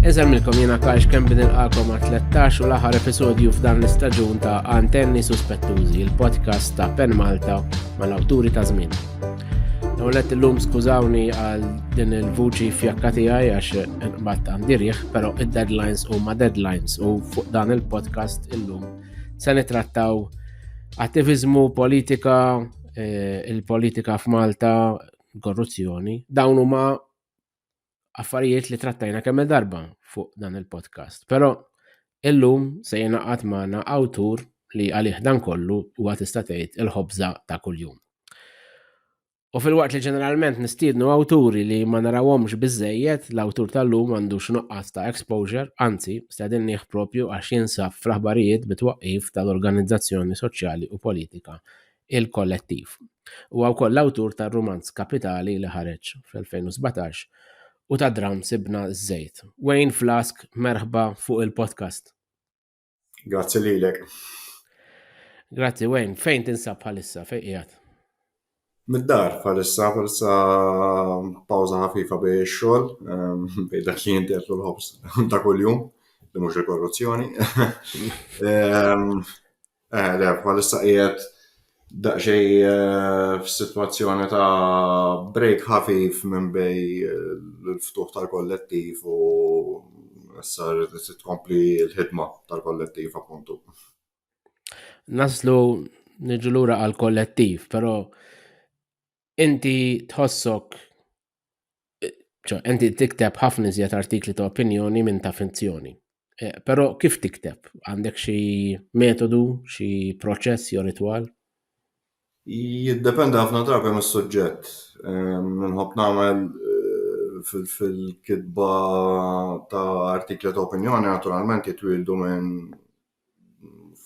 Eżemmilkom jena kax kem bin il-qalkom għat 13 u l-aħħar episodju f'dan l-istaġun ta' Antenni Suspettużi, il-podcast ta' Pen Malta mal-awturi ta' żmien. Nawlet l-lum skużawni għal din il-vuċi fjakka tiegħi għax bat għandirieħ, pero id-deadlines u ma' deadlines u fuq dan il-podcast illum se nitrattaw attivizmu, politika, eh, il-politika f'Malta, korruzzjoni, dawn huma affarijiet li trattajna kemm darba fuq dan il-podcast. Però illum se jenaqat magħna awtur li għalih dan kollu huwa tista' tgħid il-ħobża ta' kuljum. U fil-waqt li ġeneralment nistiednu awturi li ma narawhomx biżejjed, l-awtur tal-lum għandu x'nuqqas ta' exposure, anzi, stedin nieħ propju għax jinsab fl-aħbarijiet bitwaqqif tal-organizzazzjoni soċjali u politika il-Kollettiv. Huwa wkoll l-awtur tar-rumanz Kapitali li ħareġ fl-2017 u tad-dramm Sibna ż-Żejt. Wayne Flask, merħba fuq il-podcast. Grazzi lilek. Grazzi Wayne, fejn tinsab bħalissa, fejn qiegħed? Mid-dar bħalissa, bħalissa pawża ħafifa bej ix-xogħol, ehm, bej dak li jinti qed l-ħobs ta' kuljum, li mhux il-korruzzjoni. Ehm, Eh, le, bħalissa qiegħed daqsxej eh, f'sitwazzjoni ta' break ħafif minn bej eh, l-ftuħ tal-kollettiv u issa rrid tkompli l-ħidma tal-kollettiv appuntu. Naslu niġu lura għal kollettiv, però inti tħossok ċo, inti tikteb ħafna iżjed artikli ta' opinjoni minn ta' finzjoni. Eh, Pero kif tikteb? Għandek xi metodu, xi proċess jew ritwal? Jiddependi ħafna drabi mis suġġett Minħob ehm, nagħmel eh, fil-kitba ta' artikli ta' opinjoni naturalment jitwildu minn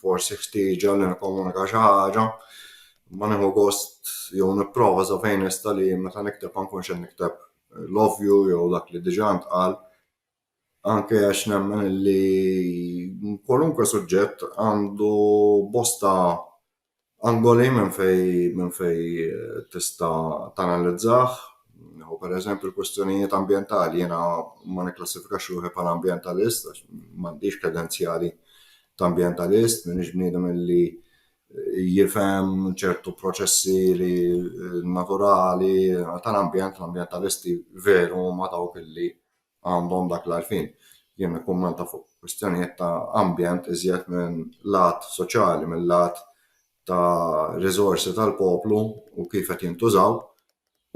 forsi ħtieġa li nikkomunika xi ħaġa, ma nieħu gost jew nipprova sa fejn nista' li meta nikteb ma nkunx qed nikteb l-ovvju jew dak li diġà ntqal anke għax nemmen li kwalunkwe suġġett għandu bosta Angoli minn fejn minn fejn tista' tanalizzah. Nieħu pereżempju l-kwistjonijiet ambjentali, jiena ma nikklassifikax ruħi bħala ambjentalist għax m'għandix kredenzjali ta' ambjentalist, m'iniex bniedem li jifhem ċertu proċessi li naturali tal-ambjent, l-ambjentalisti veru huma dawk li għandhom dak l-għarfien. Jien nikkummenta fuq kwistjonijiet ta' ambjent iżjed minn lat soċjali, minn lat ta' riżorsi tal-poplu u kif qed jintużaw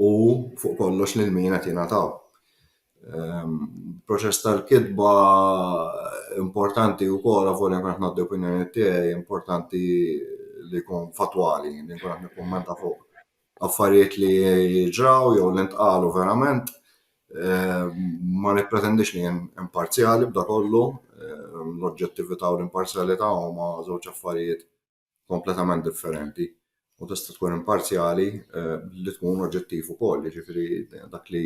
u fuq kollox lil min qed jingħataw. Ehm, proċess tal-kitba importanti wkoll avolja nkun qed ngħaddi opinjoni tiegħi importanti li jkun fatwali, li nkun qed nikkummenta fuq affarijiet li ġraw jew li ntqalu verament. Ma nippretendix li jien imparzjali b'da kollu, l-oġġettività u l-imparzjalità huma żewġ affarijiet kompletament differenti. U tista' tkun imparzjali billi tkun oġġettiv ukoll, jiġifieri dak li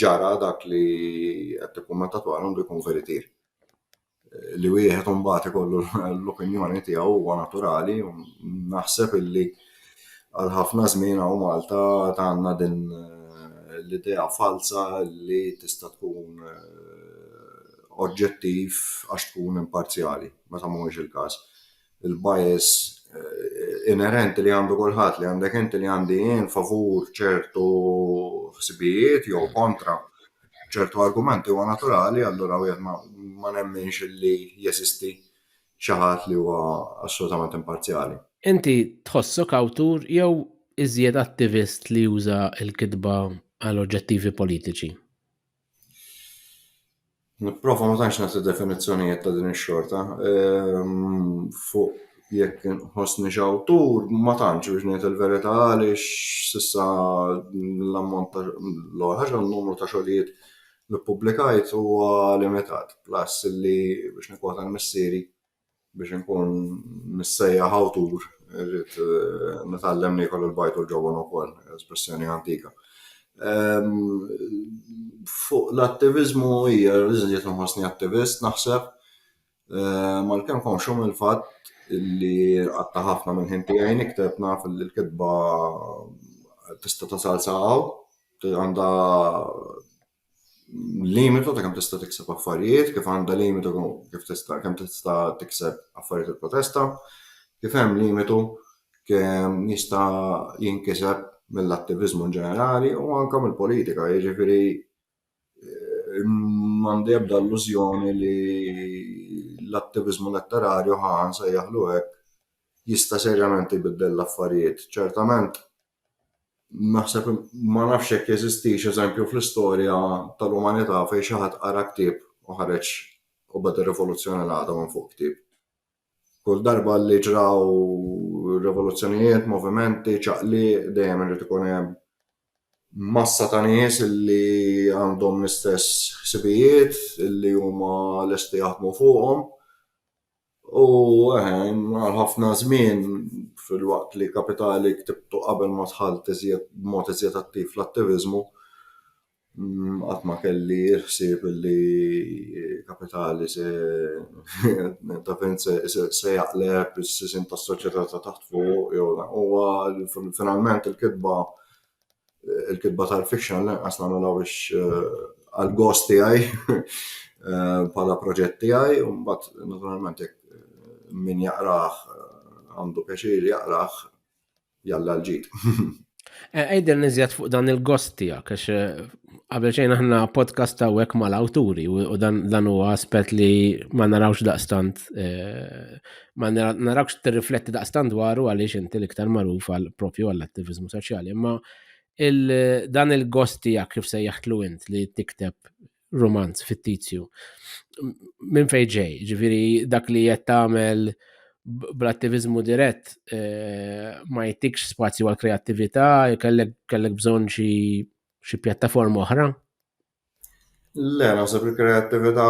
ġara, dak li qed tikkummenta dwaru għandu jkun veritier. li wieħed imbagħad ikollu l-opinjoni tiegħu huwa naturali u naħseb illi għal ħafna żmien hawn Malta għandna din eh, l-idea falza li tista' tkun eh, oġġettiv għax tkun imparzjali, meta mhuwiex il-każ. il-bias eh, inerenti li għandu kulħadd li għandek inti li għandi jien favur ċertu ħsibijiet jew kontra ċertu argumenti huwa naturali allura wieħed ma nemminx li jesisti xi ħadd li huwa assolutament imparzjali. Inti tħossok awtur jew iżjed attivist li juża l-kitba għal oġġettivi politiċi? Nipprova ma tantx nagħti definizzjonijiet ta' din ix-xorta. Ehm, Fuq jekk inħossniex awtur, ma tantx biex ngħid il-verità għaliex s'issa l-ammont ta' l-ewwel ħaġa n-numru ta' xogħlijiet li ppubblikajt huwa limitat. Plus li biex nikkwota l-missieri, Biex inkun missejjaħ awtur, irrid nitgħallem niekol il-bajd u l-ġobon ukoll, espressjoni antika. Fuq l-attiviżmu hija riżiet nħossni attivist naħseb mal-kemm konxu mill-fatt li qatta' ħafna minn ħin tiegħi nikteb naf li l-kitba tista' tasal sa hawn, għandha limitu ta' kemm tista' tikseb affarijiet, kif għandha limitu kif tista' kemm tista' tikseb affarijiet il-protesta, kif hemm limitu kemm jista' jinkiseb mill-attiviżmu ġenerali u anke mill-politika, jiġifieri eh, m'għandi ebda illużjoni li l-attiviżmu letterarju ħan se jaħlu hekk jista' serjament jbiddel l-affarijiet. Ċertament Naħseb ma nafx jekk jeżistix eżempju fl-istorja tal-umanità fejn xi ħadd qara ktieb u ħareġ u beda rivoluzzjoni l-għada minn fuq ktieb. Kull darba li ġraw rivoluzzjonijiet, movimenti, ċaqli, dejjem irid ikun hemm massa ta' nies li għandhom l-istess ħsibijiet, li huma lesti jaħdmu fuqhom. U għal ħafna żmien, filwaqt li kapitali ktibtu qabel ma dħalt b'mod iżjed attiv fl-attiviżmu, qatt ma kelli l-ħsieb li kapitali se jaqleb is-sisien tas-soċjetà ta' taħt fuq. Huwa finalment il-kitba il-kitba tal-fiction lanqas nagħmilha biex eh, għal gost tiegħi eh, bħala proġett tiegħi u mbagħad naturalment eh, min jaqrah għandu pjaċir jaqrah jalla l-ġid. Ejder nizjat fuq dan il-gost tijak, għax għabel xejn aħna podcast ta' wek mal-awturi u dan huwa aspet li ma narawx daqstant Ma narawx tirrifletti daqstan dwaru għaliex inti l-iktar magħruf għal propju għall-attivizmu soċjali, imma dan il-gost tiegħek kif se jaħtlu int li tikteb romanz fittizju. Minn fejn ġej, ġifieri dak li qed tagħmel bl-attivizmu dirett eh, ma jtikx spazju għal kreattività, kellek bżonn xi pjattaforma oħra Le, naħseb li kreattività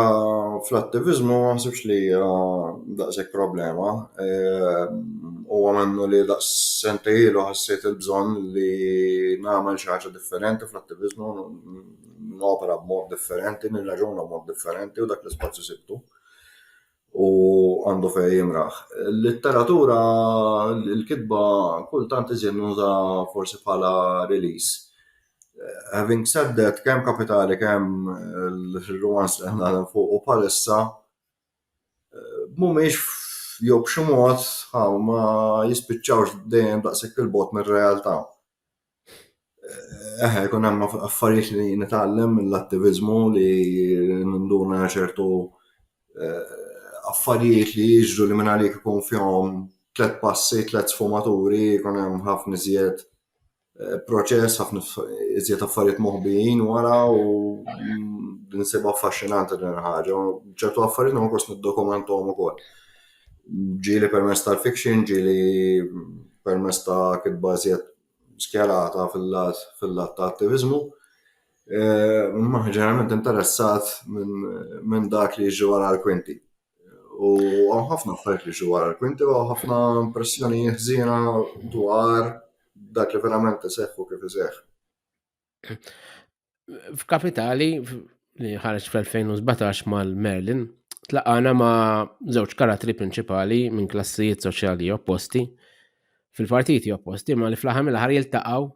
fl-attiviżmu ma naħsibx li hija daqshekk problema. Huwa minnu li daqs sentej ilu ħassejt il-bżonn li nagħmel xi ħaġa differenti fl-attiviżmu, nopera b'mod differenti, nirraġuna b'mod differenti u dak l-ispazju sibtu. u għandu fejn jimraħ. L-litteratura, l-kitba kultant iżjed nuża forsi bħala release. Having said that, kemm kapitali kemm il-romans li ħna fuq u palissa mhumiex jew b'xi mod ma jispiċċawx dejjem daqshekk il-bot mir-realtà. Eħe, jkun hemm affarijiet li nitgħallem mill-attiviżmu li ninduna ċertu eh, affarijiet li jiġru li minn għalik ikun fihom tlet passi, tlet sfumaturi, jkun hemm ħafna iżjed eh, proċess, ħafna iżjed affarijiet moħbijin wara u mm, nsib affaxxinanti din il-ħaġa. ċertu affarijiet ma kost niddokumentom ukoll. Ġieli permezz tal-fiction, ġieli permezz ta' kitba iżjed skjerata fil-lat fil-lat ta' attiviżmu. Imma ġeneralment interessat minn dak li jiġi wara l-kwinti. U għam ħafna affarijiet li jiġu wara l-kwinti u ħafna impressjoni ħżiena dwar dak li verament iseħħ u kif iseħħ. f'kapitali li ħareġ fl-2017 mal-Merlin, tlaqana ma' żewġ karatri prinċipali minn klassijiet soċjali opposti fil-partiti opposti, ma li fl-aħħar mill-aħħar jiltaqgħu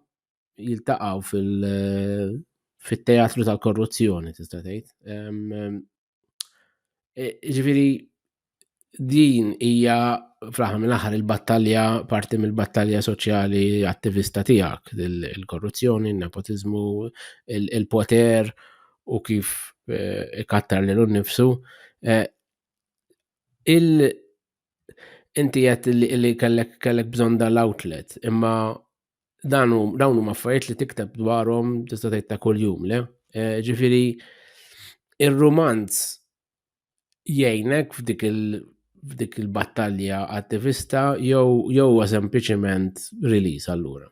jiltaqgħu fil- fit-teatru tal-korruzzjoni tista' tgħid. E, ġifieri din hija fl-aħħar mill-aħħar il-battalja parti mill-battalja soċjali attivista tiegħek, il-korruzzjoni, il-nepotiżmu, il-poter u kif e, ikattar lil nnifsu. E, il- inti qed li kellek kellek bżonn dal-outlet, imma dan dawn huma affarijiet li tikteb dwarhom tista' tgħid ta' kuljum le. Eh, ġifieri ir-rumanz jgħinek f'dik il f'dik il-battalja attivista jew jew sempliċement release allura?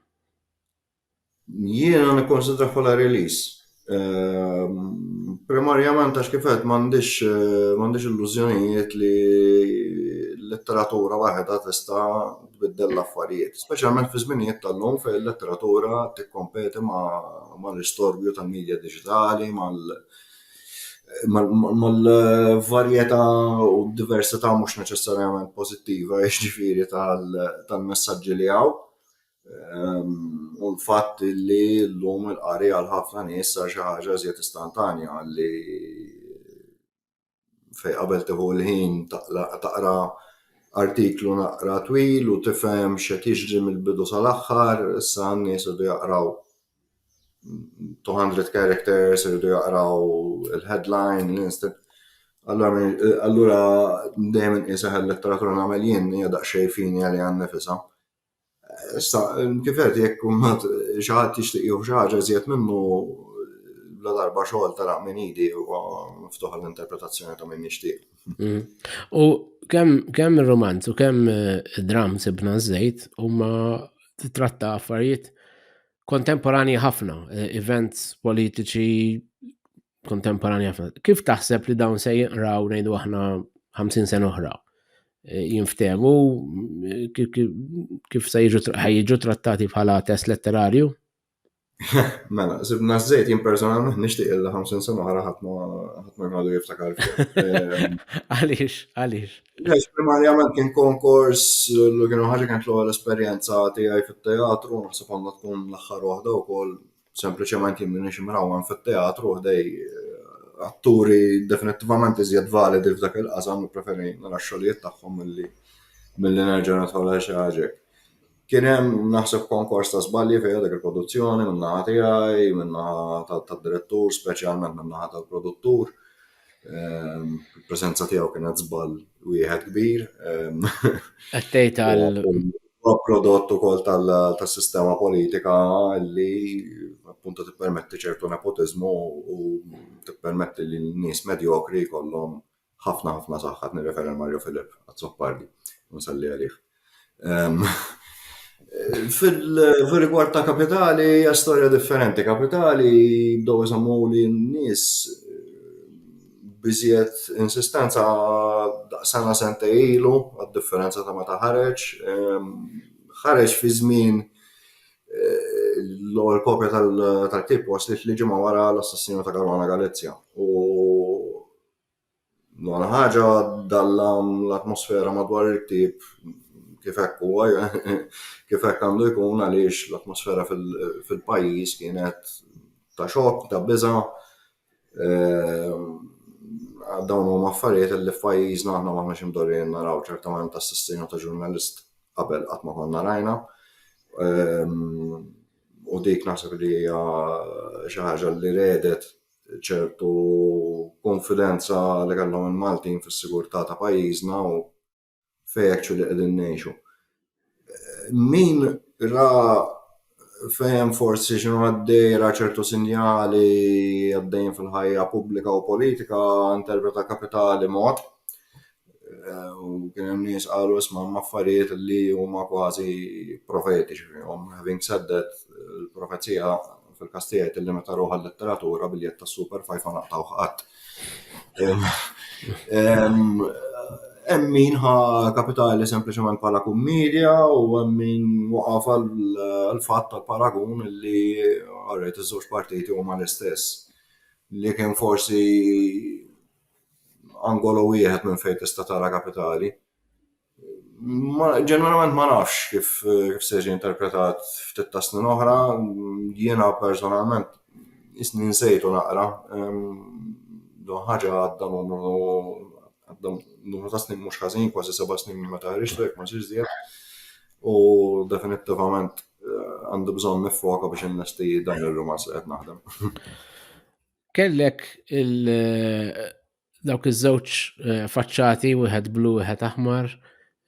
Jiena nikkonsidra bħala release. Ehm, primarjament għax kif qed m'għandix eh, m'għandix illużjonijiet li l-letteratura waħedha tista' tbiddel l-affarijiet, speċjalment fi żminijiet tal-lum fejn il-letteratura tikkompeti mal-istorbju tal-medja diġitali, mal- mal-varjetà u diversità mhux neċessarjament pożittiva jiġifieri tal-messaġġi li hawn. Ehm, u l-fatt li l-lum il-qari għal ħafna nies sar xi ħaġa żjed istantanja li fej qabel teħu l-ħin taqra artiklu naqra twil u tifhem x'qed jiġri mill-bidu sal-aħħar, issa n-nies irdu jaqraw 200 characters, irdu jaqraw il-headline, l-instant. Allura dejjem inqisaħ il-letteratura nagħmel jien hija daqsxejn fini għalija nnifisha. Issa, kif qed jekk mbagħad xi ħadd jixtieq jieħu xi ħaġa iżjed minnu la darba xogħol ta' minn idi huwa miftuħ l-interpretazzjoni ta' min jixtieq. Mm. U kemm kemm ir-romanz u kemm eh, dram sibna żejt huma titratta affarijiet kontemporani ħafna, eh, events politiċi kontemporanja. Kif taħseb li dawn se jinqraw ngħidu aħna 50 sena oħra? Eh, jinftemu kif se jiġu trattati bħala test letterarju? Mela, sibna zzejt jien personalment nixtieq illa 50 sena oħra ħadd ma jmadu jiftakar. Ehm, għaliex, għaliex. Għaliex primarjament kien konkors l kienu ħaġa kien l-ewwel esperjenza tiegħi fit-teatru, naħseb għandha tkun l-aħħar waħda wkoll Sempliċement jien minix imrawwan fit-teatru u ħdej atturi definittivament iżjed validi f'dak il-qasam u preferi nara x-xogħlijiet tagħhom milli milli nerġa' nidħol għal xi ħaġa hekk. Kien hemm naħseb konkors ta' żbalji fiha dik il-produzzjoni min-naħa tiegħi, min-naħa tad-direttur, speċjalment min-naħa tal-produttur. Il-preżenza tiegħu kienet żball wieħed kbir. Qed tgħid għal prodott ukoll tas-sistema politika li appunto tippermetti ċertu nepotiżmu u tippermetti li n-nies medjokri jkollhom ħafna ħafna saħħa nirreferi Mario Filip għazzoppardi nsalli għalih. Fil-rigward ta' kapitali, hija storja differenti. Kapitali bdew iżommu li n-nies biżjed insistenza sena sentej ilu, għad-differenza ta' meta ħareġ. Ħareġ fi żmien l-ewwel kopja tal-ktieb waslet li ġimgħa wara l-assassinju ta' Caruana Galizia. L-ogħla ħaġa dallam l-atmosfera madwar il-ktieb kif hekk huwa, kif hekk għandu jkun għaliex l-atmosfera fil-pajjiż kienet ta' xokk, ta' biża'. Ehm, dawn huma affarijiet li f'pajjiżna aħna m'aħna xi mdorrijin naraw ċertament assassinju ta' ġurnalist qabel qatt ma konna rajna. Ehm, u dik naħseb li hija xi ħaġa li redet ċertu kunfidenza li kellhom il-Maltin fis-sigurtà ta' pajjiżna u fejn actually qegħdin ngħixu. Min ra fejn forsi x'inhu għaddej ra ċertu sinjali għaddejjin fil-ħajja pubblika u politika interpreta kapitali mod U kien hemm nies qalu isma' hemm affarijiet li huma kważi profetiċi fihom. Having said that, il-profezija fil-każ tiegħi tillimita ruħha għal-letteratura biljett tas-Super Five ma naqtgħuh qatt. Hemm min ħa kapitali sempliċement bħala kummedja u hemm min waqaf għall-fatt tal-paragun li orajt iż-żewġ partijiet huma l-istess. Li kien forsi angolo wieħed minn fejn tista' tara kapitali. Ġeneralment ma nafx kif se jiġi interpretat ftit ta' snin oħra, jiena personalment isni nsejtu naqra, do ħaġa għadda numru ta' snin mhux ħażin, kważi seba' snin minn meta ħriġtu jekk ma nsirx żjed, u definittivament għandi bżonn niffoka biex innesti dan ir-rumanz li qed naħdem. kellek il- eh, dawk iż-żewġ eh, faċċati wieħed blu wieħed aħmar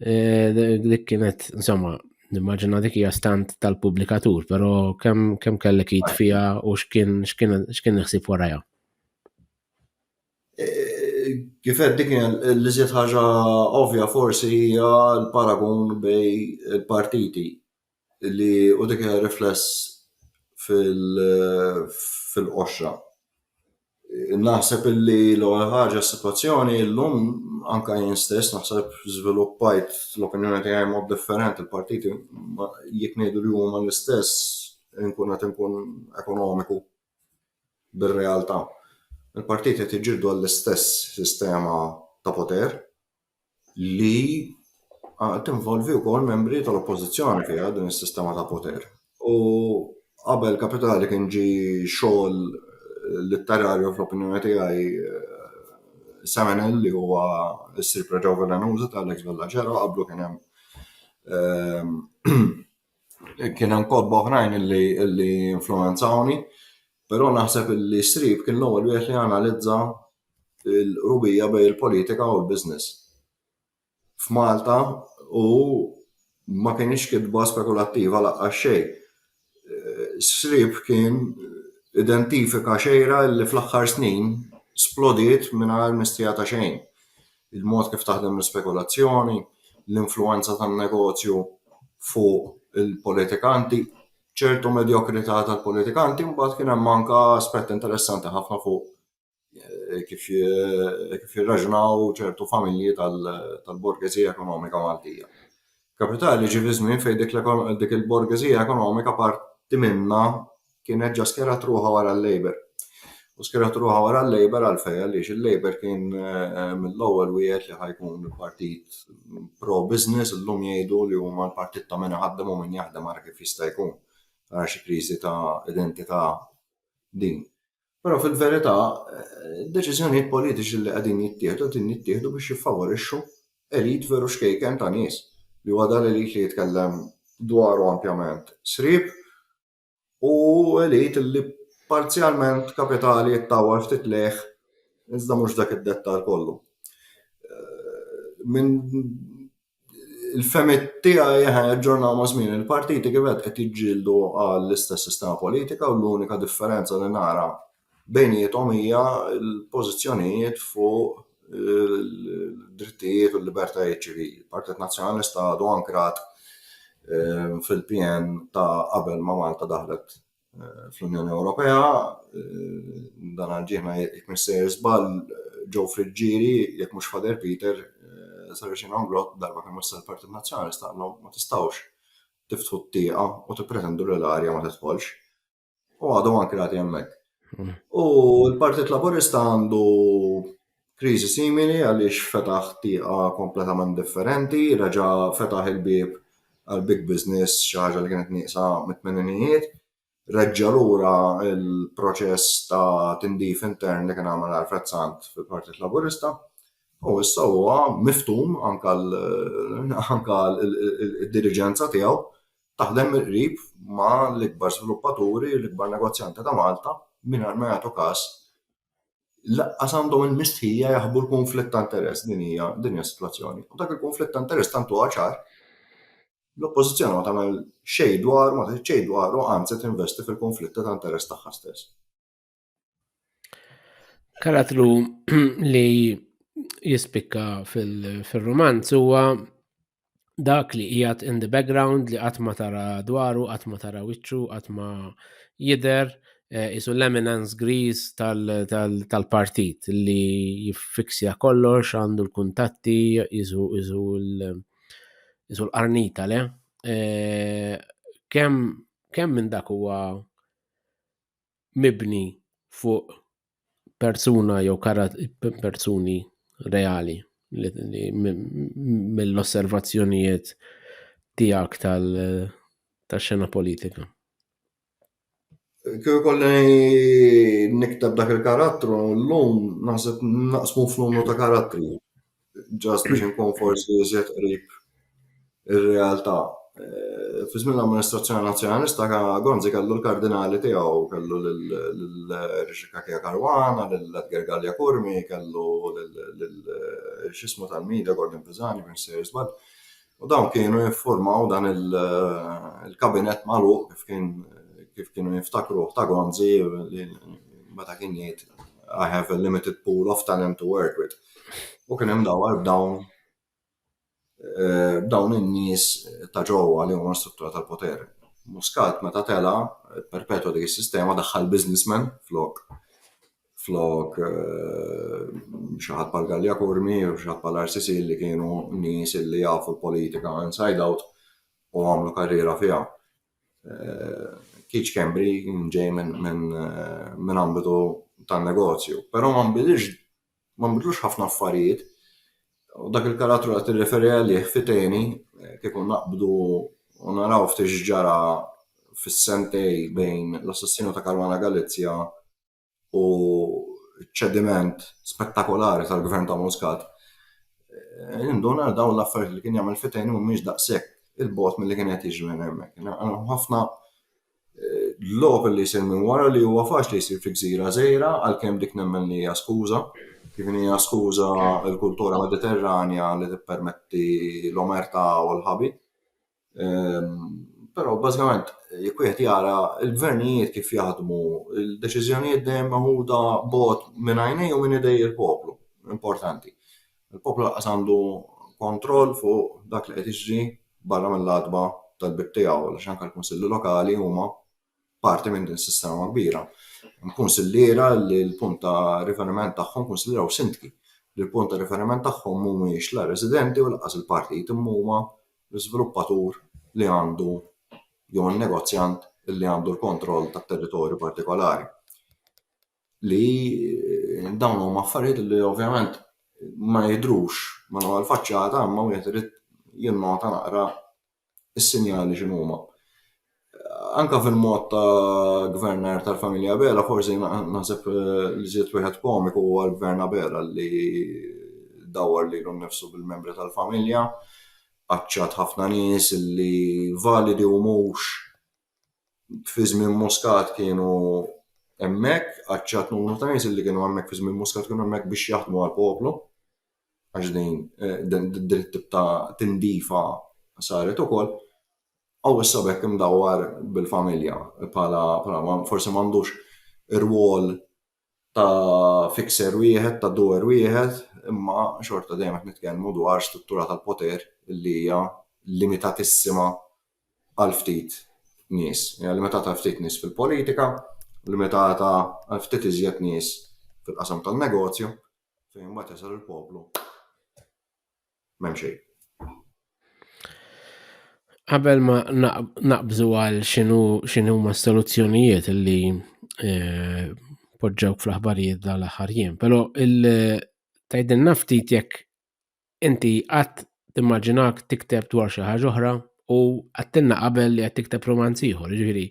eh, dik kienet insomma nimmaġina dik hija stant tal-pubblikatur, però kemm kemm kellek id fiha u x'kien x'kien x'kien iħsib warajha. Kif qed dik li żied ħaġa ovvja forsi hija l-paragun bej il-partiti li u dik hija rifless fil fil-qoxra. Naħseb illi l-ewwel ħaġa s-sitwazzjoni llum anke jien stess naħseb żviluppajt l-opinjoni tiegħi mod differenti l-partiti jekk ngħidu li huma l-istess inkun qed inkun ekonomiku bir-realtà. Il-partiti qed jiġġieldu għall-istess sistema ta' poter. li tinvolvi wkoll membri tal-oppożizzjoni fiha din is-sistema ta' poter. U qabel kapitali kien ġi xogħol litterarju fl-opinjoni tiegħi Seminel li huwa s-sir preġa velenuża ta' Alex Bellagero qablu kien hemm kien hemm kotba oħrajn li influwenzawni, però naħseb li Strib kien l-ewwel wieħed li analizza il-qrubija bejn il-politika u l-business. F'Malta u ma kienx kitba spekulattiva laqqa xejn. Srib kien identifika xejra li fl-aħħar snin splodiet mingħajr mistija ta' xejn. Il-mod kif taħdem l-spekulazzjoni, l-influenza tan-negozju fuq il-politikanti, ċertu medjokrità tal-politikanti, mbagħad kien hemm anke aspett interessanti ħafna fuq kif jirraġunaw ċertu familji tal-borgezija ekonomika Maltija. Kapitali ġie fi żmien fejn dik il-borgezija ekonomika parti minnha kienet ġa skjerat ruħha wara l-Labour. U skjerat ruħha wara l-Labour għalfejn? Għaliex il-Labour kien mill-ewwel wieħed li ħa jkun partit pro-business, illum jgħidu li huma l-partit ta' min iħaddem u min jaħdem, ara kif jista' jkun. Ara xi kriżi ta' identità din. Però fil-verità, id-deċiżjonijiet politiċi li qegħdin jittieħdu qegħdin jittieħdu biex jiffavorixxu elit veru xkejken ta' nies li huwa dan elit li jitkellem dwaru ampjament srieb u elit li parzjalment kapitali jittawwal ftit lejh iżda mhux dak id-dettall kollu. Eh, minn il-femit tiegħi ħa jaġġornaw ma' żmien il-partiti kif qed jiġġieldu għall-istess sistema politika u l-unika differenza li nara bejniethom hija l-pożizzjonijiet fuq il-drittijiet u l-libertajiet ċivili. Il-Partit Nazzjonalista għadu ankrat fil-PN ta' qabel ma' Malta daħlet fl-Unjoni Ewropea, dan għal ġieħna jekk missejjer żball ġew friġġieri jekk mhux Father Peter sar xi nagħmlok darba kemm wassal il-Partit Nazzjonalist staqalhom ma tistgħux tiftħu t-tieqa u tippretendu li l-arja ma tidħolx. U għadhom ankra għati hemmhekk. U l-Partit Laburista għandu kriżi simili għaliex fetaħ tieqa kompletament differenti, reġa' fetaħ il-bieb għal big business xi ħaġa li kienet nieqsa mit-tmeninijiet, reġġa' lura l-proċess ta' tindif intern li kien għamel Alfred Sant fil-Partit Laburista u issa huwa miftum anke d-diriġenza tiegħu taħdem mill-qrib ma' l-ikbar żviluppaturi, l-ikbar negozjanti ta' Malta mingħajr ma jagħtu każ laqqas għandhom il-mistħija jaħbu l-kunflitt ta' interess din hija din hija s-sitwazzjoni. U dak il-kunflitt ta' interess tant huwa ċar l-oppożizzjoni ma tagħmel xejn dwar ma tgħid xejn dwaru anzi tinvesti fil-kunflitt ta' interess tagħha stess. Karattru li jispikka fil-romanz huwa dak li qiegħed in the background li qatt ma tara dwaru, qatt ma tara wiċċu, qatt ma jidher eh, isu l-eminence grease tal-partit li jiffiksja kollox għandu l-kuntatti isu isu l-qarnita le. Eh, kemm kemm minn dak huwa mibni fuq persuna jew persuni reali mill-osservazzjonijiet tiegħek tal-xena politika? Kif kolli niktab dak il-karattru, l-lum naħseb naqsmu f'numru ta' karattri. ġast biex nkun forsi iżjed qrib ir-realtà. Eh, fi żmien l-amministrazzjoni nazzjonalista Gonzi kellu l-kardinali tiegħu, kellu l-Rixika Kija Karwana, l-Edgar Gallia Kurmi, kellu l-xismu tal-Mida, Gordon Pisani, minn Sir Zbad. U dawn kienu jiffurmaw dan il-kabinett magħluq kif kien kif kienu jiftakruh ta' Gonzi li meta kien jgħid I have a limited pool of talent to work with. U kien hemm dawar b'dawn eh, b'dawn in-nies ta' ġewwa li huma struttura tal-poter. Muscat meta tela, perpetwa dik is-sistema daħħal businessman flok flok xi ħadd bħal Gallia Kurmi u xi ħadd bħal RCC li kienu nies li jafu l-politika inside out u għamlu karriera fiha. Kiċ Kembri ġej minn ambitu tan-negozju, però ma nbidilx ma nbidlux ħafna affarijiet u dak il-karattru qed tirreferi għalih fiteni kieku naqbdu u naraw ftit x'ġara fis-sentej bejn l-assassinu ta' Caruana Galizia u ċediment spettakolari tal-gvern ta' Muscat, eh, induna dawn l-affarijiet li kien jagħmel fitejn mhumiex daqshekk il-bot mill-li kien qed jiġri minn hemmhekk. Ħafna eh, lok li jsir minn wara li huwa faċli jsir fi gżira żejra għalkemm dik nemmen li hija skuża. Kif hija skuża l-kultura mediterranja li tippermetti l-omerta u l-ħabi. Però bażikament jekk wieħed jara l-gvernijiet kif jaħdmu, il-deċiżjonijiet dejjem maħuda bot minn għajnej u minn idej il-poplu. Importanti. Il-poplu laqas għandu kontroll fuq dak li qed jiġri barra mill-għatba tal-bieb tiegħu għax anke l-kunsilli lokali huma parti minn din sistema kbira. Nkunsidera li l-punt ta' riferiment tagħhom kunsidraw sindki li l-punt ta' riferiment tagħhom mhumiex la residenti u laqas il-partit imma huma l-iżviluppatur li għandu jew negozjant li għandu l-kontroll tat-territorju partikolari. Li dawn huma affarijiet li ovvjament ma jidrux ma faċċata imma wieħed irid jinnota naqra is-sinjali x'inhuma. Anka fil-mod ta' gvernar tal-familja Abela, forsi naħseb eh, li żied wieħed komiku huwa l-gvern Abela li dawar lilu nnifsu bil-membri tal-familja, qaċċat ħafna nies li validi u mhux fi żmien Muscat kienu hemmhekk, għaċċat numru ta' nies li kienu hemmhekk fi żmien Muscat kienu hemmhekk biex jaħdmu għall-poplu għax din din it-tip ta' tindifa saret ukoll. Aw issa bekk imdawwar bil-familja bħala forsi m'għandux rwol ta' fixer wieħed, ta' doer wieħed, imma xorta dejjem qed nitkellmu dwar struttura tal-poter li hija limitatissima għal ftit nies. Hija limitata għal ftit nies fil-politika, limitata għal ftit iżjed nies fil-qasam tan-negozju, fejn mbagħad jasal il-poplu. M'hemm xejn. Qabel ma naqbżu għal xinu xinu ma soluzzjonijiet li eh, poġġew fl-aħbarijiet dal aħħar jiem, pero il-tajdin naftit jekk inti għat timmaġinak tikteb dwar xi ħaġa oħra u għattinna qabel li qed tikteb romanz ieħor, ġifieri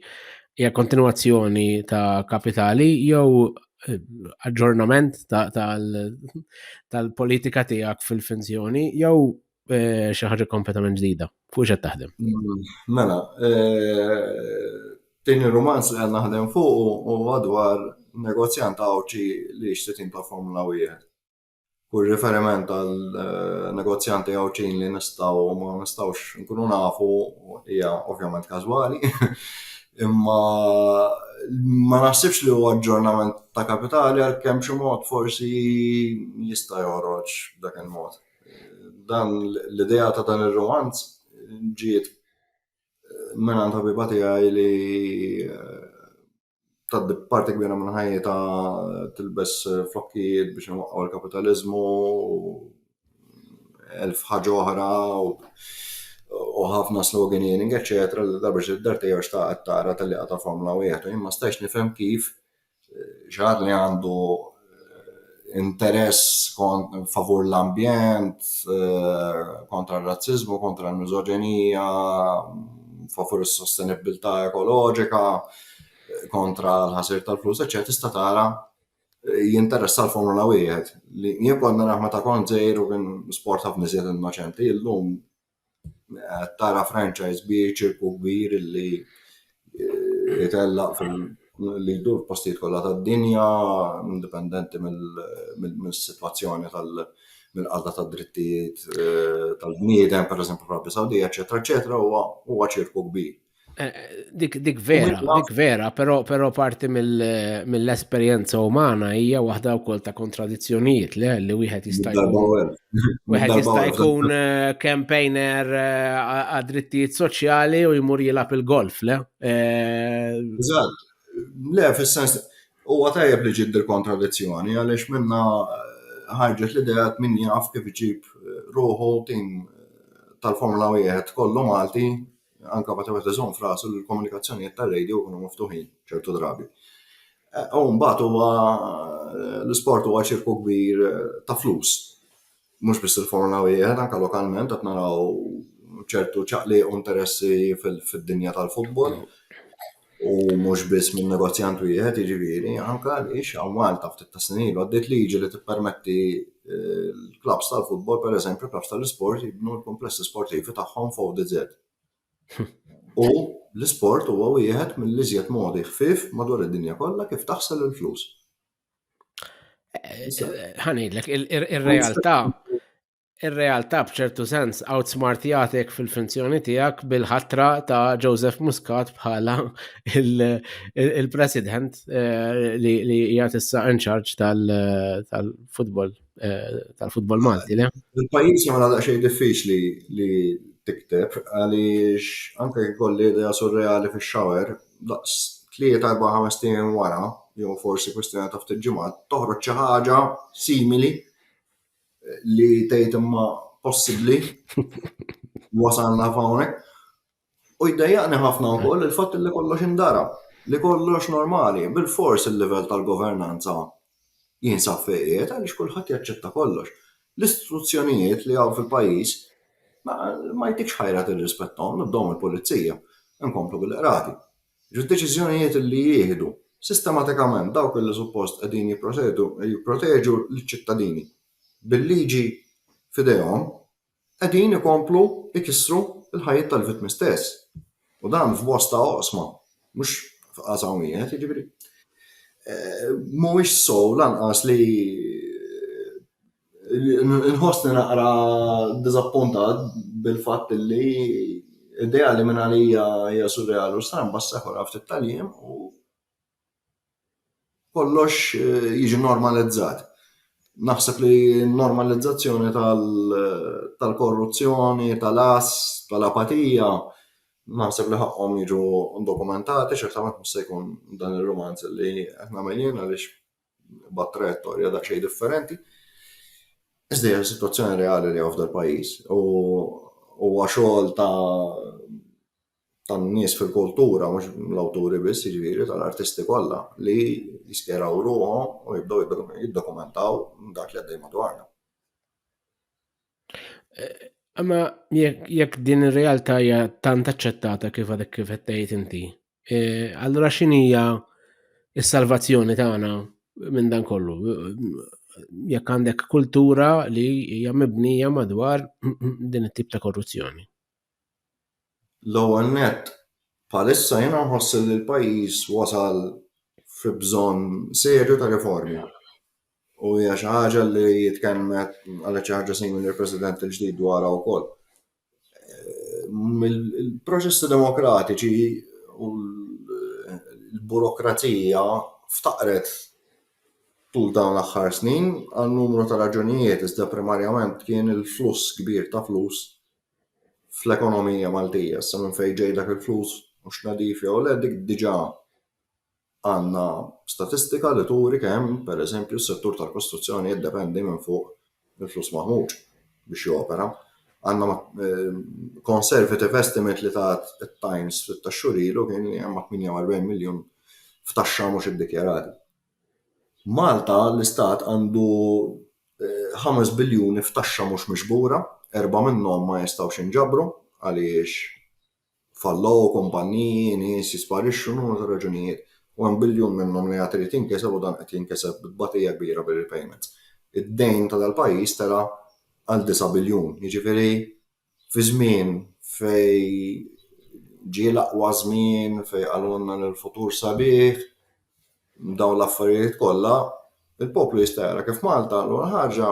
hija kontinwazzjoni ta' kapitali jew eh, aġġornament tal-politika tiegħek fil-finzjoni jew eh, xi ħaġa kompletament ġdida. Fuq x'qed taħdem? Mm, mela, eh, din ir-romanz li għandna naħdem fuq u għadwar negozjant għawċi li xtetin ta' Formula 1. Kull riferiment għal negozjanti Għawdxin li nistgħu u ma nistgħux nkunu nafu hija ovvjament każwali. Imma ma naħsibx li huwa aġġornament ta' kapitali għalkemm b'xi mod forsi jista' joħroġ b'dak il-mod. Dan l-idea ta' dan ir-rumanz ġiet mingħand ħabiba tiegħi li tgħaddi parti kbira minn ħajjitha tilbes flokkijiet biex inwaqqgħu l-kapitaliżmu elf ħaġa oħra u ħafna sloganing, eċetera, li darba xi dar tiegħu xtaqet tara tal-liqa ta' Formula wieħed u jien ma stajx nifhem kif eh, xi li għandu interess favur l-ambjent, eh, kontra r-razzizmu, kontra l-mizoġenija, favur is-sostenibilità ekoloġika, kontra l-ħasir tal-flus, eċċetera, tista' tara eh, jinteressa l-Formula wieħed. Li jien konna naħma ta' kont żejr u kien sport ħafna iżjed innoċenti, illum qed tara franchise bi ċirku kbir li eh, jitellaq fil li jdur postijiet kollha tad-dinja, indipendenti mill-sitwazzjoni tal mill-qalda tad-drittijiet eh, tal-bniedem, pereżempju fl-Arabja Sawdija, eċetera, eċetera, huwa ċirku kbir. Eh, dik, dik vera, dik vera, pero, pero parti mill-esperienza mill umana hija waħda wkoll ta' kontradizzjonijiet le li wieħed jista' jkun. Wieħed jista' jkun eh, campaigner eh, għad-drittijiet soċjali u jmur jilgħab il-golf le. Eżatt. Le, fis-sens huwa tajjeb li ġid il-kontradizzjoni għaliex minna ħarġet l-idea min jaf kif iġib ruħu tim tal-Formula 1 kollu Malti anka meta wieħed iżomm frasu li l-komunikazzjonijiet tar-radio jkunu miftuħin ċertu drabi. Eh, u mbagħad huwa eh, l-isport huwa ċirku kbir eh, ta' flus. Mhux biss il-formula wieħed anka lokalment qed naraw ċertu ċaqli u interessi fid-dinja tal-futbol. u mhux biss minn negozjant wieħed jiġifieri anke għaliex hawn Malta ftit ta' snin ilu għaddiet liġi li tippermetti eh, l-klabs tal-futbol pereżempju klabs tal-isport jibnu l-kumplessi sportivi tagħhom f'ODZ. U l-isport huwa wieħed mill-iżjed modi ħfief madwar id-dinja kollha kif taħsel il-flus. Eh, eh, ħanidlek, ir-realtà Ir-realtà b'ċertu sens outsmartjatek fil-finzjoni tiegħek bil-ħatra ta' Joseph Muscat bħala il-president eh, li jgħat issa in charge tal-futbol eh, tal-futbol Malti. Il-pajjiż jagħmel daqsxejn diffiċli li tikteb għaliex anke jkolli idea surreali fix-shower daqs tlieta erba' ħames wara jew forsi kwistjoni ta' ftit ġimgħat toħroġ xi ħaġa simili li tgħid imma possibbli wasalna f'hawnhekk. U jdejjaqni ħafna wkoll il-fatt li kollox indara, li kollox normali, bil-fors il-livell tal-governanza jinsab fejqiet għaliex kulħadd jaċċetta kollox. L-istituzzjonijiet li hawn fil-pajjiż ma jtikx ħajra tirrispettom, nibdew mill-pulizija, nkomplu bil-qrati. Id-deċiżjonijiet li jieħdu, sistematikament dawk li suppost qegħdin jipproteġu liċ-ċittadini bil-liġi f'idejhom, qegħdin ikomplu jkissru l-ħajjiet tal-vittmi stess. U dan f'bosta oqsma, mhux f'qasam wieħed, jiġifieri mhuwiex sew lanqas li Nħossni naqra diżappuntat bil-fatt li idea li minn għalija hija surreali u stramba issa jħu lha ftit tal-jiem u kollox jiġi normalizzat. Naħseb li n-normalizzazzjoni tal-korruzzjoni, tal-għażż, tal-apatija, naħseb li ħaqqhom jiġu dokumentati, ċertament mhux se jkun dan ir-rumanz li qed nagħmel jien għaliex. mbagħad trajettorja dak xejn differenti. Iżda hija situazzjoni reali li għafda l-pajjiż u huwa xogħol ta' tan-nies fil-kultura mhux l-awturi biss jiġifieri tal-artisti kollha li jiskeraw ruħhom u jibdew jiddokumentaw dak li għaddej madwarna. Imma jekk din ir-realtà hija tant aċċettata kif għadek kif qed tgħid inti, E, allura x'inhija s-salvazzjoni tagħna minn dan kollu? Jekk għandek kultura li hija mibnija madwar din it-tip ta' korruzzjoni. L-ewwel net, palissa jiena nħoss li l-pajjiż wasal fi bżonn serju ta' riformi. U hija xi ħaġa li jitkellmet għal xi ħaġa simili l-President il-ġdid dwarha wkoll. Il-proċessi demokratiċi u l-burokrazija ftaqret tul dawn l-aħħar snin għal numru ta' raġunijiet iżda primarjament kien il-fluss kbir ta' flus fl-ekonomija Maltija. Sa minn fejn ġej dak il-flus, hux nadif jew le, dik diġà Għandna statistika li turi kemm, per eżempju, s-settur tal-kostruzzjoni jiddependi minn fuq il-flus maħmuġ biex jopera. Għandna conservative estimate li tat it-Times ftit tax-xhur ilu kien li hemm 48 miljun f'taxxa mhux iddikjarati. Malta, l-istat, għandu ħames biljuni f'taxxa mhux miġbura, erbgħa minnhom ma jistgħux jinġabru għaliex Fallow, kumpanniji, nies jisparixxu, numru ta' raġunijiet, u hemm biljun minnhom li għad irid jinkiseb u dan qed jinkiseb bi tbatija kbira bir-repayments. Id-dejn ta' dal-pajjiż tela' għal disa' biljun, jiġifieri fi żmien fejn ġie l-aqwa żmien, fejn qalulna li l-futur sabiħ, dawn l-affarijiet kollha, il-poplu jista' jara kif Malta l-ewwel ħaġa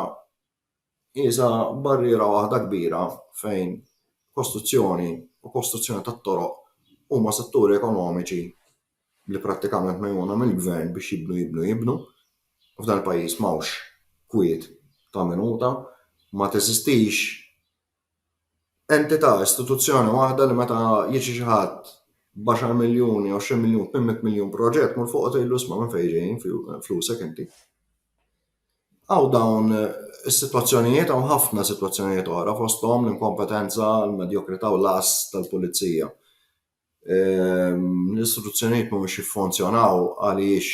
Iżha barriera waħda kbira fejn kostruzzjoni u kostruzzjoni tat-toroq huma setturi ekonomiċi li prattikament megħjuna mill-gvern biex jibnu jibnu jibnu. F'dan il-pajjiż m'hawnx kwiet ta' minuta, ma teżistix entità, istituzzjoni waħda li meta jiġi xi ħadd b'għaxar miljun jew xi miljun, tmien mitt miljun proġett mur fuq u tgħidlu isma' minn fejn ġejjin flusek inti. Hawn dawn is-sitwazzjonijiet hawn ħafna sitwazzjonijiet oħra fosthom l-inkompetenza, l-medjokrità u l-għażż tal-pulizija. l-istituzzjonijiet mhumiex jiffunzjonaw għaliex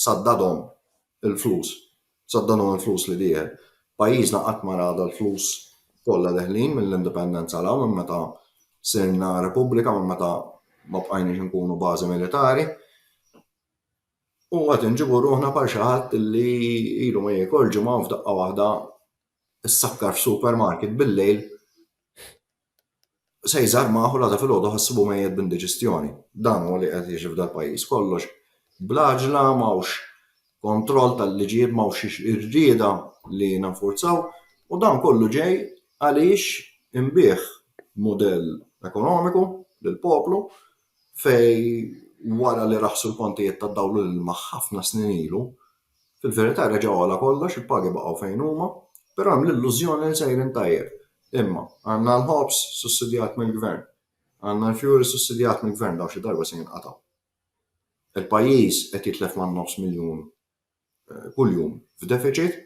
saddadhom il-flus, saddadhom il-flus li dieħel. Pajjiżna qatt ma rada l-flus kollha deħlin mill-indipendenza l minn meta sirna repubblika, minn meta ma bqajniex nkunu bażi militari. U għad nġibu ruħna par xi ħadd li ilu ma jiekol ġimgħa f'daqqa waħda ssakkar f'supermarket bil-lejl se jżarr magħha u l-għada filgħodu ħassibu mejjet b'indiġestjoni. Dan huwa li qed jiġi f'dal-pajjiż. Kollox bl-għaġla, m'hawnx kontroll tal-liġijiet, m'hawnx irrieda li ninfurzaw u dan kollu ġej għaliex inbiegħ mudell ekonomiku lill-poplu fejn wara li raħħsu l-kontijiet tad-dawl u l-ilma ħafna snin ilu, Fil-verità reġa' għola kollox, il-pagi baqgħu fejn huma, però hemm l-illużjoni li sejrin tajjeb. Imma, għandna l-ħobż sussidjat mill-Gvern. Għandna l-fjuwil sussidjat mill-Gvern, dawn xi darba se jinqatgħu. Il-pajjiż qed jitlef man-nofs miljun kuljum f'defiċit.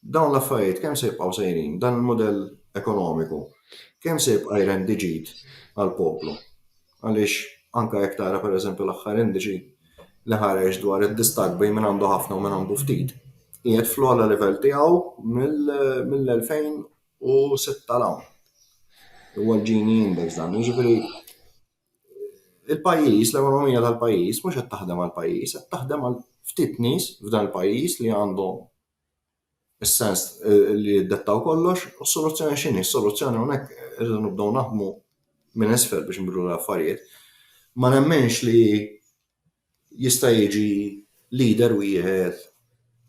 Dawn l-affarijiet kemm se jibqgħu sejrin, dan il-mudell ekonomiku, kemm se jibqa' jrendi ġid għall-poplu? Għaliex anke jekk tara pereżempju l-aħħar indiċi li ħareġ dwar id-distakk bejn min għandu ħafna u min għandu ftit, qiegħed fl-ogħla livell tiegħu mill-2006 'l hawn. Huwa l-Gini Index dan, jiġifieri. il-pajjiż, l-ekonomija tal-pajjiż mhux qed taħdem għall-pajjiż, qed taħdem għal ftit nies f'dan il-pajjiż li għandhom is-sens eh, li jiddettaw kollox, u s-soluzzjoni x'inhi? Is-soluzzjoni hawnhekk irridu nibdew naħdmu minn isfel biex nbidlu l-affarijiet. Ma nemmenx li jista' jiġi leader wieħed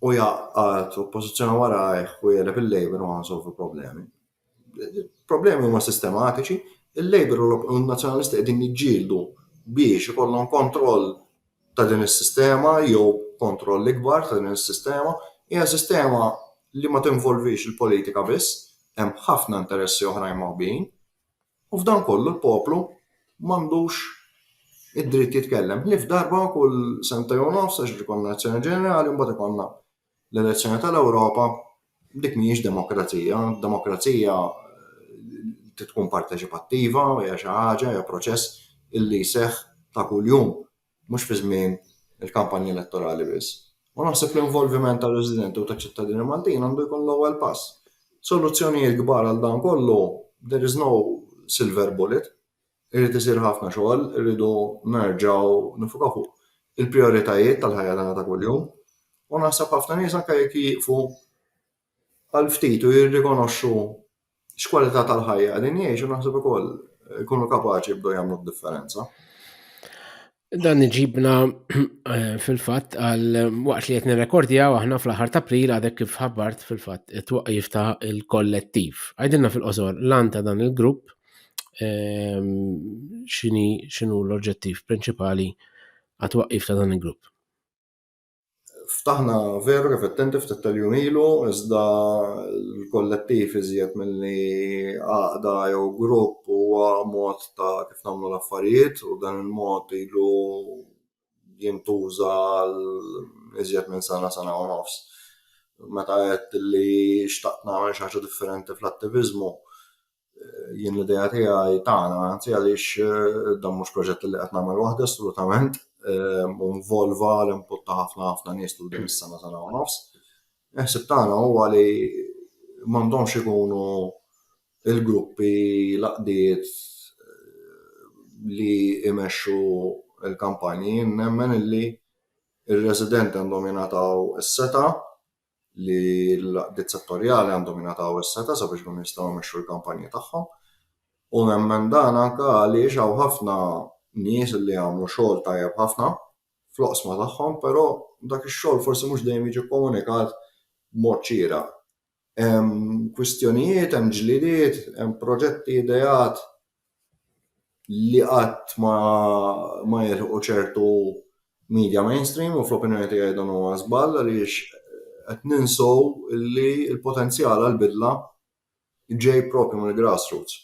u jaqqat oppożizzjoni warajh u jeleb il-Labour u ħansolvu problemi. problemi huma sistematiċi, il-Labour u n-Nazzjonalisti qegħdin jiġġieldu biex ikollhom kontroll ta' din is-sistema jew kontroll ikbar ta' din is-sistema. Hija sistema li ma tinvolvix il-politika biss, hemm ħafna interessi oħrajn moħbijin. U f'dan kollu l-poplu m'għandux id-dritt jitkellem. Ħlief darba kull sentej u nofs għax ikollna elezzjoni ġenerali mbagħad ikollna L-elezzjoni tal-Ewropa dik mhijiex demokrazija, demokrazija trid tkun parteċipattiva u hija xi ħaġa hija proċess illi jseħħ ta' kuljum mhux fi żmien il-kampanji elettorali biss. U naħseb l-involviment ta' residenti u ta' ċittadini Maltin għandu jkun l-ewwel pass. Soluzzjonijiet kbar għal dan kollu there is no silver bullet. Irid isir ħafna xogħol, irridu nerġgħu niffukaw fuq il-prijoritajiet tal-ħajja tagħna ta' kuljum u naħseb ħafna nies anke jekk jieqfu għal ftit u jirrikonoxxu x'kwalità tal-ħajja qegħdin jgħixu naħseb ukoll ikunu kapaċi jibdew jagħmlu d-differenza. Dan iġibna fil-fatt għal waqt li qed nirrekordjaw aħna fl-aħħar ta' April għadek kif ħabbart fil-fatt it-twaqqif ta' il-kollettiv. Għajdilna fil-qosor lan ta' dan il-grupp ehm, xini xinu l-oġġettiv prinċipali għat-twaqqif ta' dan il-grupp. Ftaħna veru kif qed ftit tal-jum ilu, iżda l-kollettiv iżjed milli għaqda jew grupp huwa mod ta' kif nagħmlu l-affarijiet u dan il-mod ilu jintuża għal iżjed minn sena, sena u nofs. Meta għedt li xtaqt nagħmel xi ħaġa differenti fl-attiviżmu, jien l-idea tiegħi tagħna, anzi għaliex eh, dan mhux proġett li qed nagħmel waħda assolutament, eh, involva l-input ta' ħafna ħafna nies tul din is-sena sena u nofs. Eħsib tagħna huwa li m'għandhomx ikunu il-gruppi laqdiet eh, li imexxu l-kampanji, nemmen illi il-residenti għandhom jingħataw is-seta' li l-għaqdiet settorjali għandhom jingħataw is-setgħa sabiex ikunu jistgħu jmexxu l-kampanji tagħhom. U nemmen dan anke għaliex hawn ħafna nies li jagħmlu xogħol tajjeb ħafna fl-oqsma tagħhom, però dak ix-xogħol forsi mhux dejjem jiġi komunikat b'mod ċira. Hemm kwistjonijiet, hemm ġlidiet, hemm proġetti ideat li qatt ma ma jilħqu ċertu media mainstream u fl-opinjoni tiegħi dan huwa żball għaliex qed ninsew li l-potenzjal għall-bidla ġej propju mill-grassroots.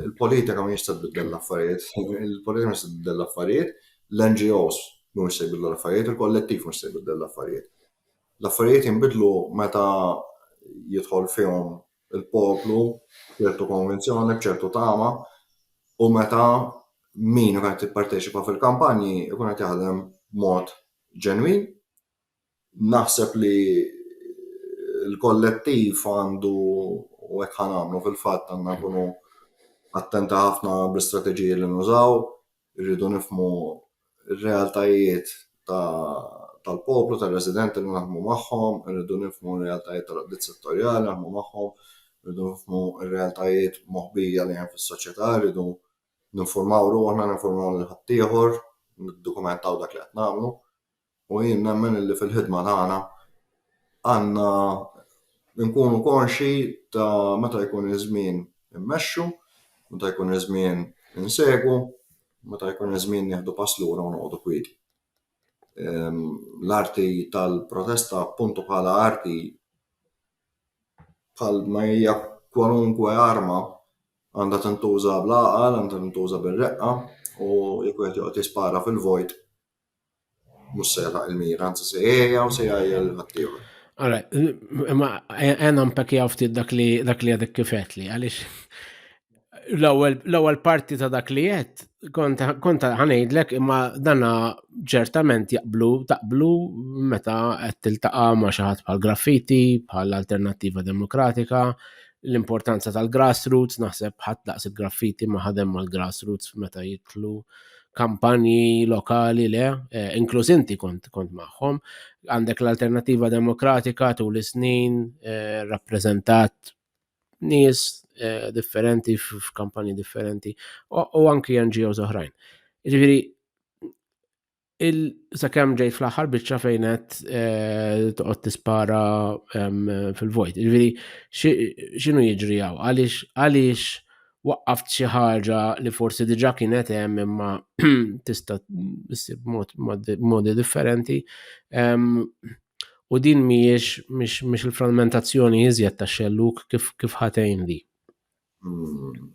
Il-politika mhijiex se tbiddel l-affarijiet, il-politika mhux se tbiddel l-affarijiet, l-NGOs mhumiex se jbiddlu l-affarijiet, il-kollettiv mhux se jbiddel l-affarijiet. L-affarijiet jinbidlu meta jidħol fihom il-poplu b'ċertu konvinzjoni, b'ċertu tama, u meta min ikun qed jipparteċipa fil-kampanji ikun qed jaħdem mod ġenwin. Naħseb li l-kollettiv għandu u hekk ħanamlu fil-fatt għandna nkunu attenta ħafna bl-istrateġiji li nużaw, Irridu nifhmu r-realtajiet tal-poplu, tar-residenti li naħdmu magħhom, irridu nifhmu r-realtajiet tal-għaqdiet settorjali naħdmu magħhom, irridu nifhmu r-realtajiet moħbija li hemm fis-soċjetà, irridu ninfurmaw ruħna, ninfurmaw lil ħaddieħor, niddokumentaw dak li qed nagħmlu. U jien nemmen li fil-ħidma tagħna għandna nkunu konxji ta' meta jkun iż-żmien immexxu, meta jkun iż-żmien insegwu, meta jkun iż-żmien nieħdu pass lura u noqogħdu kwieti. L-arti tal-protesta appuntu bħala arti bħal ma hija kwalunkwe arma għandha tintuża bl-għaqal, għandha tintuża bir-reqqa u jekk wieħed joqgħod jispara fil-vojt Mhux se jagħlaq il-mira, anzi se jgħejja u se jgħajjel ħaddieħor. Ara, imma għena mpekki ftit dak li dak li għadek kifet li, għalix l-ewwel parti ta' dak li jett, konta ħanejdlek imma dana ċertament jaqblu, taqblu meta qed tiltaqa' ma' xi ħadd bħal graffiti, bħal alternattiva demokratika, l-importanza tal-grassroots, naħseb ħadd daqs il-graffiti ma ħadem mal-grassroots meta jitlu kampanji lokali le, eh, inkluż inti kont kont magħhom, għandek l-Alternativa Demokratika tul is-snin eh, rappreżentat nies eh, differenti f- f'kampanji differenti u u anki NGOs oħrajn. Ġifieri il sakemm ġejt fl-aħħar biċċa fejn qed eh, toqgħod tispara em, fil-vojt. Ġifieri xi- x'inhu jiġri hawn? Għaliex għaliex waqqaft xi ħaġa li forsi diġà kienet hemm imma tista' ssib modi differenti. U din mhijiex mhix il-frammentazzjoni iżjed ta' xelluk kif kif ħatejn li. Hmm.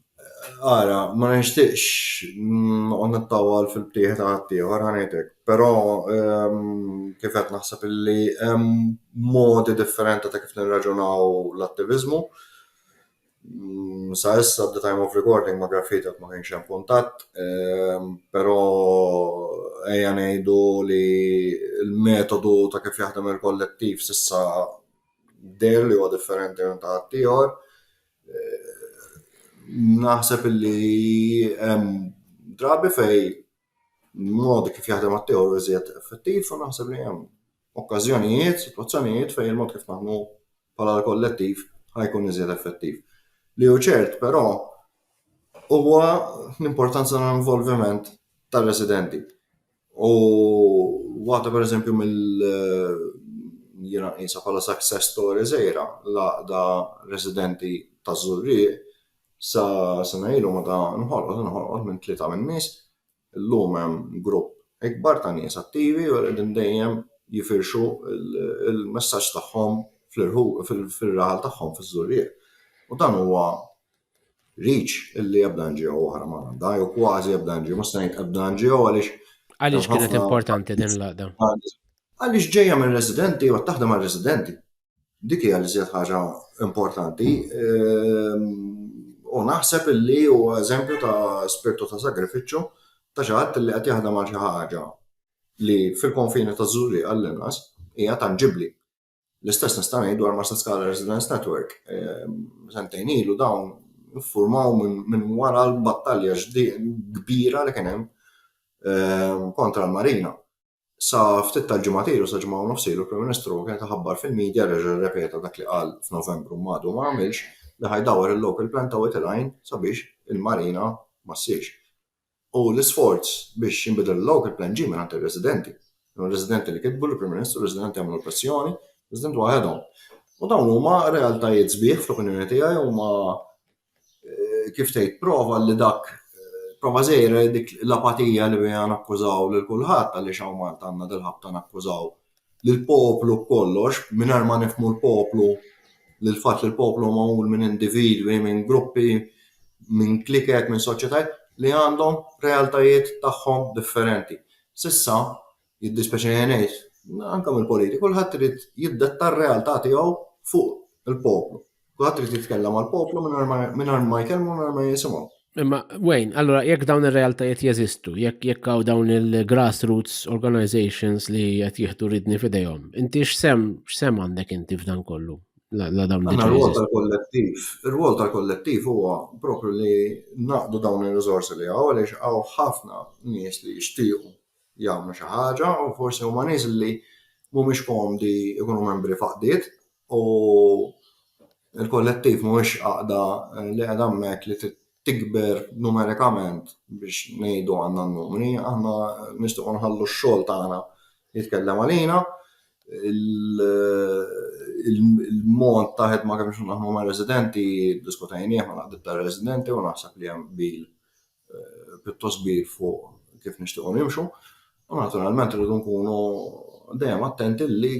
Ara, ma nixtieqx noqgħod nittawal fil-btieħ ta' ħaddieħor ħanejtek, però kif qed naħseb illi hemm modi differenti ta' kif nirraġunaw l-attiviżmu Sa issa at the time of recording ma' Graffiti għad ma kienx hemm kuntatt, però ejja ngħidu li l-metodu ta' kif jaħdem il-kollettiv s'issa deher li huwa differenti minn ta' ħaddieħor. Naħseb illi hemm drabi fejn mod kif jaħdem għat-tieħor iżjed effettiv u naħseb li hemm okkażjonijiet, sitwazzjonijiet fejn il-mod kif naħdmu bħala l-kollettiv ħa jkun iżjed effettiv. Li hu ċert, però, huwa l-importanza tal-involviment tar-residenti. U waħda pereżempju mill jiena nqisha bħala success story żgħira l-għaqda residenti taż-Żurrieq Sa sena ilu meta nħolqot inħolqot minn tlieta min-nies, illum hemm grupp ikbar ta' nies attivi u qegħdin dejjem jifirxu l-messaġġ tagħhom fir-raħal tagħhom fiż-Żurrieq. U dan huwa reach illi ebda NGO oħra ma għandha, jew kważi ebda NGO, mhux se ngħid ebda NGO għaliex Għaliex kienet importanti din l-għaqda? Għaliex ġejja minn residenti u taħdem għal residenti. Dik hija l-iżjed ħaġa importanti. Ehm, u naħseb illi huwa eżempju ta' spirtu ta' sagrifiċċju ta' xi ħadd li qed jaħdem għal xi ħaġa li fil-konfini ta' Zuri għall-inqas hija tanġibbli. L-istess nista' ngħid dwar Master Scala Residence Network. Ehm, sentejn ilu dawn iffurmaw minn wara l-battalja kbira li kien hemm ehm, kontra l-Marina. Sa ftit tal-ġimgħat ilu, sa ġimgħa u nofs ilu, l-Prim Ministru kien iħabbar fil-media, reġa' rrepeta dak li qal f'Novembru imma għadu ma għamilx, li ħa jdawwar il-local plan ta' Wied il-Għajn sabiex il-marina ma ssirx. U l-isforz biex jinbidel il-local plan ġie mingħand ir-residenti. Kienu r-residenti li kitbu lill-Prim Ministru, r-residenti għamlu l-pressjoni, residenti waħedhom. U dawn huma realtajiet sbieħ fl-opinjoni tiegħi huma eh, kif tgħid, prova li dak eh, prova żejra li dik l-apatija li biha nakkużaw lil kulħadd għaliex hawn Malta għandna dil-ħabta nakkużaw lil poplu kollox mingħajr ma nifmu l-poplu lil fatt li l-poplu magħmul minn individwi, minn gruppi, minn kliket, minn soċjetajiet li għandhom realtajiet tagħhom differenti. Sissa, Jiddispjaċini ngħid, anke mill-politik, kulħadd irid jiddetta r-realtà tiegħu fuq il-poplu. Kulħadd irid jitkellem għall-poplu mingħajr ma jkellmu mingħajr ma jisimgħu. Imma, Wayne, allora jekk dawn ir-realtajiet jeżistu, jekk jekk hawn dawn il-grassroots organizations li qed jieħdu ridni f'idejhom, inti x'sem x'sem għandek inti f'dan kollu? La dawn diġà. Ir-rwol tal-kollettiv, ir-rwol tal-kollettiv huwa propju li naqdu dawn ir-riżorsi li hawn għaliex hawn ħafna nies li jixtiequ jagħmlu xi ħaġa u forsi huma nies li mhumiex komdi jkunu membri faqdiet u il-kollettiv mhuwiex għaqda li qed hemmhekk li tikber numerikament biex ngħidu għandna n-numri, aħna nistgħu nħallu x-xogħol tagħna jitkellem għalina, il-mod ta' ħedma kemm xi naħmu ma' residenti diskutajnieh ma' naqdib ta' residenti u naħseb li hemm bil pjuttost kbir fuq kif nixtiequ nimxu, u naturalment irridu nkunu dejjem attenti li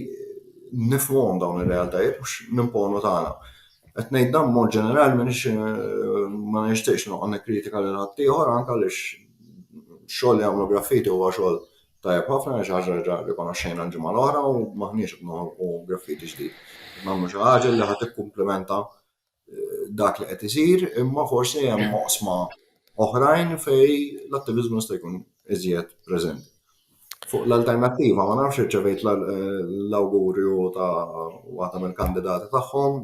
nifhmuhom dawn ir-realtajiet mhux nimponu tagħna. Qed ngħid dan b'mod ġenerali m'iniex ma nixtieqx noqgħod nikkritika lil ħaddieħor anke għaliex x-xogħol li jagħmlu Graffiti huwa xogħol tajjeb ħafna, hija xi ħaġa li diġà rikonoxxejna l-ġimgħa l-oħra u m'aħniex qed noħolqu graffiti ġdid. Qed nagħmlu xi ħaġa li ħa tikkumplimenta dak li qed isir, imma forsi hemm oqsma oħrajn fej l-attiviżmu jista' jkun iżjed preżenti. Fuq l-alternattiva, ma nafx irċevejt l-awgurju ta' waħda mill-kandidati tagħhom.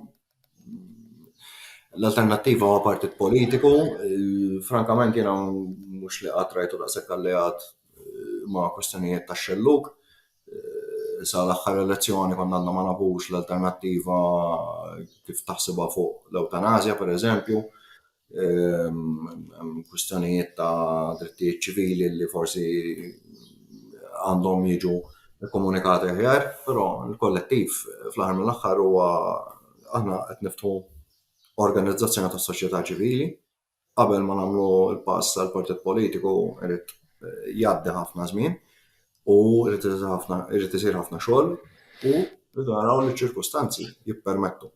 L-alternattiva huwa partit politiku, frankament jiena mhux li qatt rajtu daqshekk alleat eh, ma' kwistjonijiet ta' xelluk, sa l-aħħar elezzjoni konna għadna ma nafux l-alternattiva kif taħsibha fuq l-eutanazja, per eżempju, ehm, kwistjonijiet ta' drittijiet ċivili li forsi għandhom jiġu komunikati ħjar, però l-kollettiv fl-aħħar mill-aħħar huwa aħna qed niftħu organizzazzjoni tas-soċjetà ċivili qabel ma nagħmlu l-pass għal partit politiku irid eh, jgħaddi ħafna żmien u irid isir ħafna xogħol u rridu naraw li ċirkustanzi jippermettu.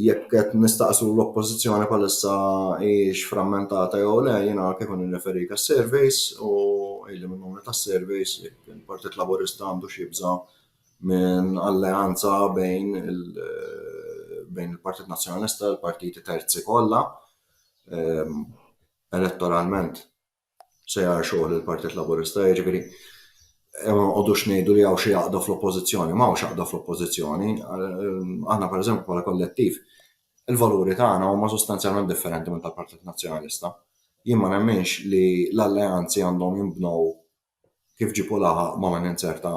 Jekk qed nistaqsu l-oppożizzjoni bħalissa hijiex frammentata jew le, jiena kif nirreferi ka surveys u illi minnhom ta' surveys il-Partit Laburista għandu xi jibża' minn alleanza bejn il-Partit Nazzjonalista u l-partiti terzi kollha. Ehm, elettoralment se jara xogħol il-Partit Laburista, jiġifieri eh, ma nqogħdux ngħidu li hawn xi jaqda fl-oppożizzjoni, ma hawnx jaqda fl-oppożizzjoni. Ehm, aħna pereżempju bħala kollettiv, il-valuri tagħna huma sostanzjalment differenti minn tal-Partit Nazzjonalista. Jien ma nemminx li l-alleanzi għandhom jinbnew kif ġieb u laħaq ma' min inzerta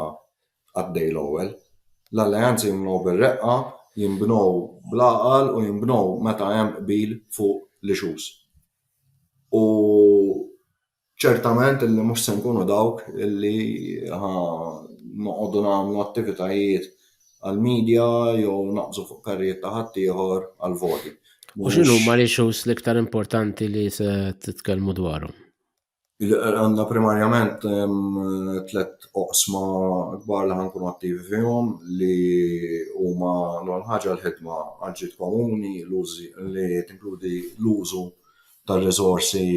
għad-dej l-ewwel. L-alleanzi jinbnew bir-reqqa, jinbnew bl-għaqal u jinbnew meta hemm qbil fuq l-issues. U ċertament li mhux se nkunu dawk li ħa noqogħdu nagħmlu attivitajiet għall-media jew naqbżu fuq karrijiet ta' ħaddieħor għall-voti. U x'inhuma l-issues l-iktar importanti li se titkellmu dwarhom? Għandna primarjament tliet oqsma kbar li ħankunu attivi fihom li huma l-ewwel ħaġa l-ħidma għal ġid komuni li tinkludi l-użu tar-riżorsi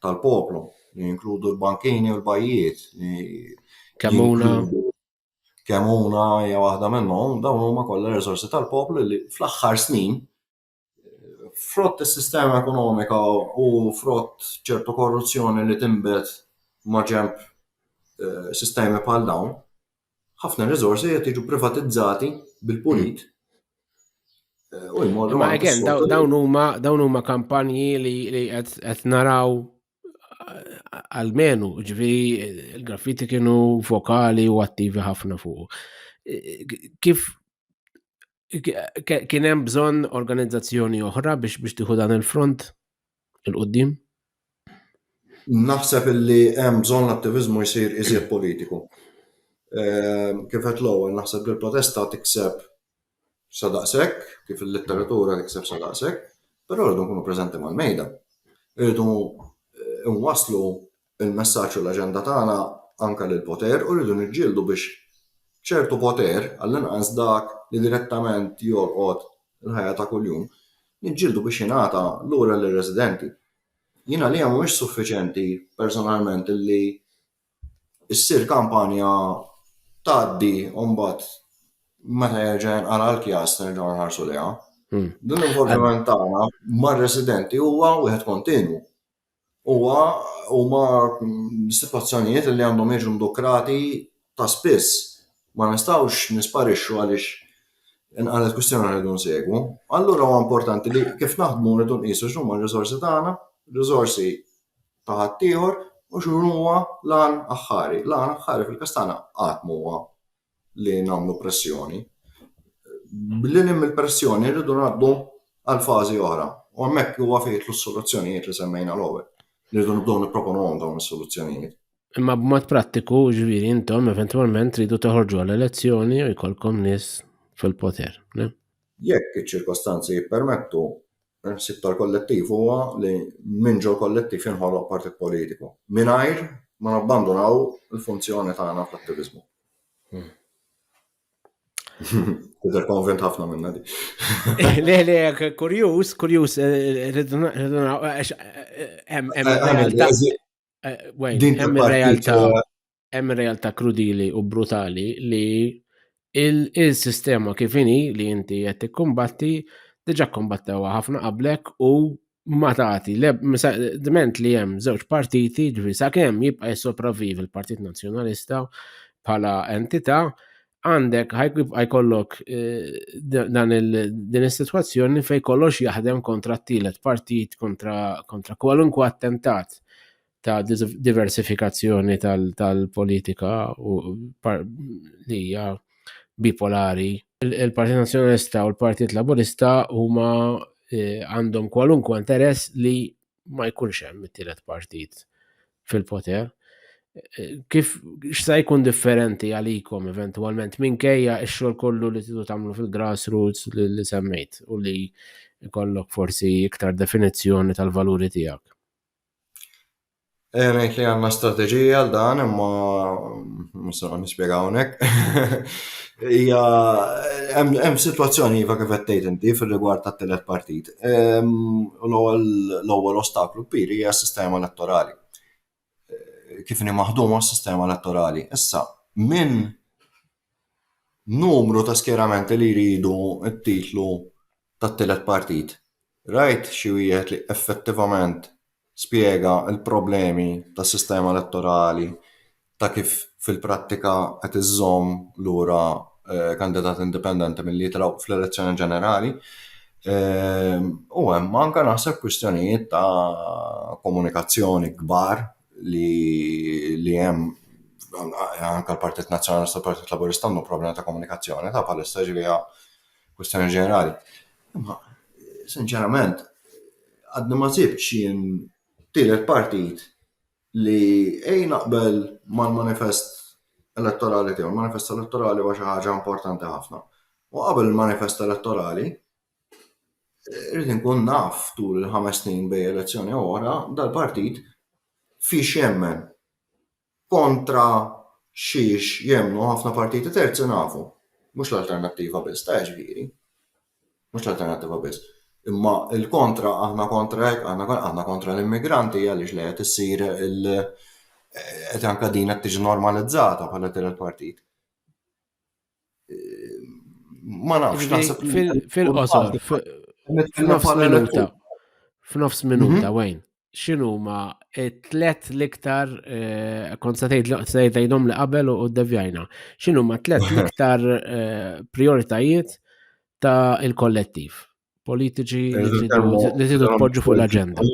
tal-poplu li jinkludu l-bankini u l-bajjiet li Kemmuna. Kemmuna hija waħda minnhom, dawn huma kollha riżorsi tal-poplu li fl-aħħar snin frott is-sistema ekonomika u frott ċertu korruzzjoni li tinbet maġenb eh, sistemi bħal dawn, ħafna riżorsi qed jiġu privatizzati bil-pulit. Eh, u jmorru. Ma again, dawn huma dawn huma kampanji li qed naraw għalmenu, ġvi il-graffiti kienu vokali u attivi ħafna fuq. Kif Kien hemm bżonn organizzazzjoni oħra biex biex tieħu dan il-front il-qudiem? Naħseb illi hemm bżonn l-attivizmu jsir iżjed politiku. Ehm, kif qed l-ewwel naħseb li l-protesta tikseb sa daqshekk, kif il-letteratura tikseb sa daqshekk, però rridu nkunu preżenti mal-mejda. Rridu eh, nwaslu Il-messaġġ u l-aġenda tagħna anke lill-poter u rridu niġġieldu biex ċertu poter, għall-inqas dak li direttament jolqot il-ħajja ta' kuljum, niġġieldu biex jingħata lura lir-residenti. Jien għalija mhuwiex suffiċjenti personalment li ssir kampanja tgħaddi u mbagħad meta jerġa' jinqala' l-kjas nerġgħu nħarsu lejha. L-involviment tagħna mar-residenti huwa wieħed kontinwu. Huwa huma sitwazzjonijiet li għandhom jiġu ndukrati ta' spiss. Ma nistgħux nisparixxu għaliex inqalet kwistjoni rridu nsegwu. Allura huwa importanti li kif naħdmu rridu nqisu x'huma r-riżorsi tagħna, riżorsi ta' ħaddieħor u x'inhuwa l-għan aħħari. L-għan aħħari fil-każ tagħna qatt ma huwa li nagħmlu pressjoni. Billi hemm il-pressjoni rridu ngħaddu għal fażi oħra. U hemmhekk huwa fejn jitlu s-soluzzjonijiet li semmejna l-ewwel. Rridu nibdew nipproponuhom dawn is-soluzzjonijiet. Imma b'mod prattiku, ġviri, intom eventualment tridu teħorġu għal-elezzjoni u jkollkom nis fil-poter. Jekk iċ-ċirkostanzi jippermettu, Il-ħsieb tal-kollettiv huwa li minn ġol-kollettiv jinħoloq partit politiku, mingħajr ma nabbandunaw il-funzjoni tagħna fl-attiviżmu. Hmm. Tidher konvent ħafna minna di. Le, le, kurjus, kurjus, eh, rridu naraw, eh, eh, hemm realtà. Din realtà. hemm realtà krudili u brutali li il-sistema kif inhi li inti qed tikkumbatti diġà kombattewa ħafna qablek u ma tagħti dment li hemm żewġ partiti ġifi sakemm jibqa' jissopravviv il-Partit Nazzjonalista bħala entità għandek ħajkibqa' jkollok eh, dan din is-sitwazzjoni fejn kollox jaħdem kontra t-tielet partit kontra kwalunkwe attentat ta' diversifikazzjoni tal-politika u li hija bipolari. Il-Partit Nazzjonalista u l-Partit Laburista huma eh, għandhom kwalunkwe interess li ma jkunx hemm it-tielet partit fil-poter. Eh, kif x'sa jkun differenti għalikom eventwalment minkejja x-xogħol kollu li tidu tagħmlu fil-grassroots li semmejt u li jkollok forsi iktar definizzjoni tal-valuri tiegħek. Element li għanna strategija għal dan, imma musa għan nispiega għonek. Ija, hemm situazzjoni jiva kif għettejt inti fil-rigward ta' telet partit. L-ewwel ostaklu kbir hija s-sistema elettorali. Kif ni maħduma s-sistema elettorali. Issa, minn numru ta' skjeramenti li jridu t-titlu tat-tielet partit. Rajt xi wieħed li effettivament spjega l-problemi tas-sistema elettorali ta' kif fil-prattika qed iżżomm lura kandidati indipendenti milli jitilgħu fl-elezzjoni ġenerali. U hemm anke naħseb kwistjonijiet ta' komunikazzjoni kbar li li hemm anke l-Partit Nazzjonalista u l-Partit Laburista għandhom problema ta' komunikazzjoni ta' bħalissa ġifieri kwistjoni ġenerali. Imma sinċerament għadni ma sibx jien tielet partit li ej naqbel mal-manifest elettorali tiegħu, manifest elettorali huwa xi ħaġa importanti ħafna. U qabel il-manifest elettorali, Irrid inkun naf tul il-ħames snin bej elezzjoni u oħra dal-partit fiex jemmen. Kontra xiex jemmnu ħafna partiti terzi nafu. Mhux l-alternattiva biss, ta' ġifieri. Mhux l-alternattiva biss. Imma il-kontra aħna kontra hekk, aħna kontra l-immigranti għaliex li qed issir il- qed anka din qed tiġi normalizzata bħala tielet partit. Ma nafx naħseb fil-qosor f'nofs minuta. F'nofs minuta mhm. wejn. X'inhu ma tlet l-iktar eh, kont se tgħidhom li qabel u ddevjajna. X'inhu ma tlet l-iktar eh, prioritajiet ta' il-kollettiv politiċi li tidu tpoġġu fuq l-aġenda.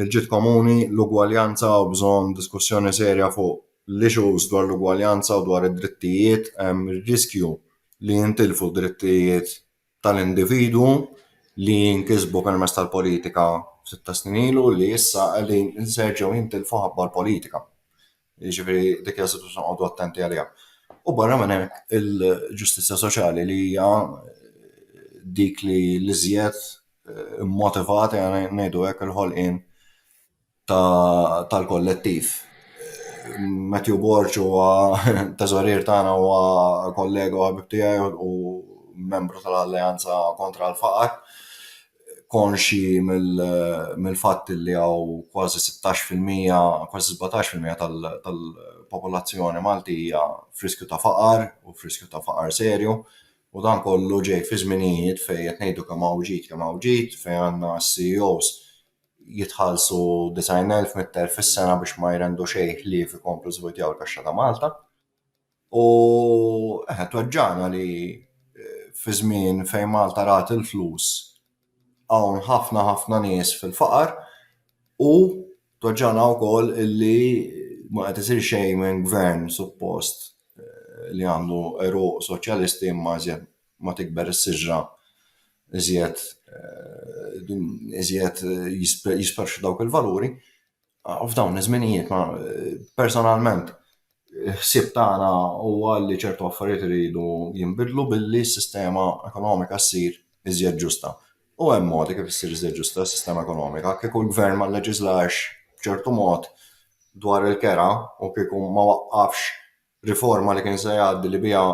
Il-ġid komuni, l-ugwaljanza u bżonn diskussjoni serja fuq l-issues dwar l-ugwaljanza u dwar id-drittijiet, hemm ir-riskju li jintilfu d-drittijiet tal-individwu li nkisbu permezz tal-politika ftit ta' snin ilu li issa qegħdin inserġew jintilfu ħabba l-politika. Jiġifieri dik hija sitwazzjoni noqogħdu attenti għaliha. U barra minn hekk il-ġustizzja soċjali li hija dik li l-iżjed eh, motivat jgħana eh, ngħidu hekk il-ħolqien tal-kollettiv. Eh, Matthew Borċ huwa teżorir tagħna huwa kollega u ħabib tiegħi u membru tal-Alleanza kontra l-Faqar. konxi mill-fatt li hawn kważi 16%, kważi 17% tal-popolazzjoni Maltija friskju ta' faqar u friskju ta' faqar serju u dan kollu ġej fi żminijiet fejn qed ngħidu kemm hawn ġid kemm hawn ġid fejn għandna CEOs jitħallsu 90,000, 100,000 fis-sena biex ma jrendu xejn ħlief ikomplu jżweġġaw il-kaxxa ta' Malta. U eħe tweġġagħna li fi żmien fejn Malta rat il-flus hawn ħafna ħafna nies fil-faqar u tweġġagħna wkoll illi ma qed isir xejn minn gvern suppost li għandu għeruq soċjalisti imma iżjed ma tikber is-siġra iżjed iżjed jisparixxu dawk il-valuri. Ah, f'dawn iż-żminijiet ma personalment ħsieb tagħna huwa li ċertu affarijiet iridu jinbidlu billi s-sistema ekonomika ssir iżjed ġusta. U hemm modi kif issir iżjed ġusta s-sistema ekonomika, kieku l-gvern ma leġislax b'ċertu mod dwar il-kera u kieku ma waqqafx riforma li kien se jgħaddi li biha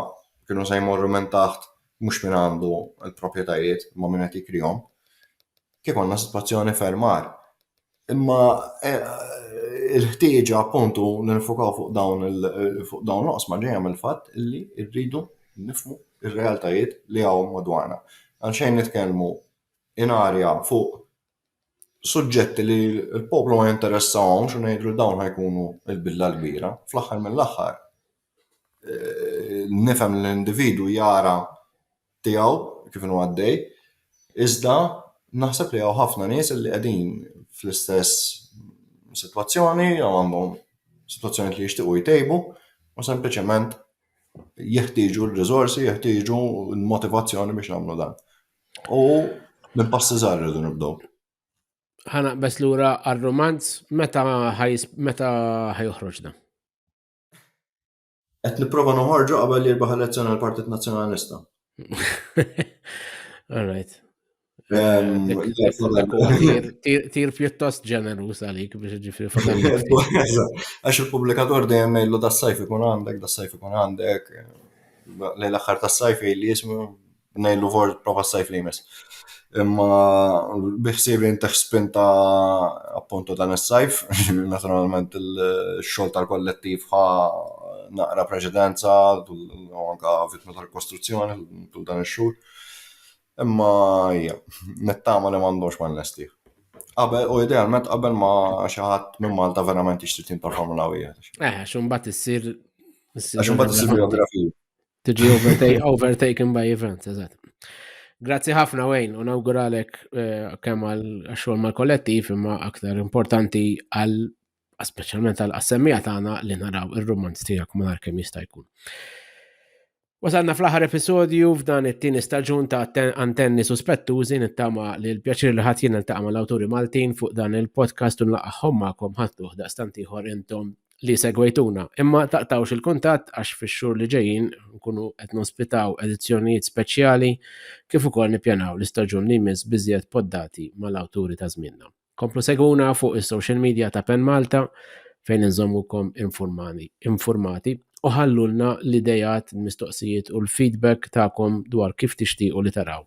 kienu se jmorru minn taħt mhux minn għandu l-proprjetajiet ma minn qed jikrihom, kif għandna sitwazzjoni fermar. Imma il-ħtieġa appuntu li nifukaw fuq dawn fuq dawn l-oqsma ġejja mill-fatt li rridu nifmu ir-realtajiet li hawn madwarna. Għalxejn nitkellmu in arja fuq suġġetti li l-poplu ma jinteressahomx u ngħidlu dawn ħajkunu l-bidla l-kbira, fl-aħħar mill-aħħar nifhem li l-individwu jara tiegħu kif inhu għaddej, iżda naħseb li hawn ħafna nies li qegħdin fl-istess sitwazzjoni jew għandhom sitwazzjonijiet li jixtiequ jtejbu u sempliċement jeħtieġu r-riżorsi, jeħtieġu l-motivazzjoni biex jagħmlu dan. U minn passi żgħar irridu nibdew. Ħana bes lura għar-romanz meta ħajjoħroġna? Qed nipprova noħorġu qabel li jirbaħ elezzjoni għal partit Nazzjonalista. All right. Ehm, tir pjuttost ġenerus għalik biex ġifri Għax il-publikator dejjem ngħidlu da sajf ikun għandek, da sajf ikun għandek. Lejn l-aħħar ta' sajf li jismu Nejlu for prova s-sajf li jmiss. Imma biħsib li jintax spinta appuntu dan is-sajf, naturalment il-xol tal-kollettiv ħa naqra preċedenza u anka vitma tal-kostruzzjoni tul dan ix-xhur. Imma hija, nittama li m'għandux ma nlesti. Qabel, u idealment qabel ma xi ħadd minn Malta verament jixtri tim tal-Formula 1. Eh, xumbat issir. Għax imbagħad issir biografija. Tiġi overtaken by events, eżatt. Grazzi ħafna Wayne, u nawguralek eh, kemm għal xogħol mal-kollettiv imma aktar importanti għal speċjalment għal assemmija tagħna li naraw ir-romanz tiegħek ma kemm jista' jkun. Wasalna fl-aħħar episodju f'dan it-tieni staġun ta' antenni suspettużi nittama li l-pjaċir li ħadd jien niltaqa' mal-awturi Maltin fuq dan il-podcast u nlaqgħhom magħkom ħadd daqstant ieħor intom li segwejtuna, imma taqtawx il-kuntatt għax fix-xhur li ġejjin nkunu qed nospitaw edizzjonijiet speċjali kif ukoll nippjanaw l-istaġun li jmiss b'iżjed poddati mal-awturi ta' żmienna. Komplu segwuna fuq is-social media ta' Pen Malta fejn inżommukom informati u ħallulna l-idejat, il-mistoqsijiet u l-feedback tagħkom dwar kif tixtiequ li taraw